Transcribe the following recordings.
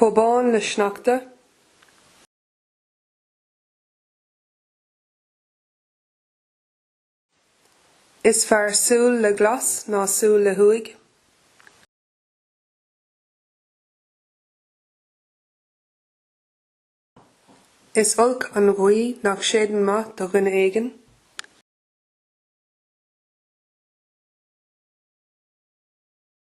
chomh bán le sneachta. Is fearr súil le glas ná súil le huaigh. Is olc an ghaoth nach séideann maith do dhuine éigin.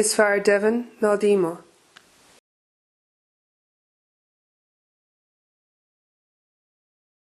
Is fearr deimhin ná díomá.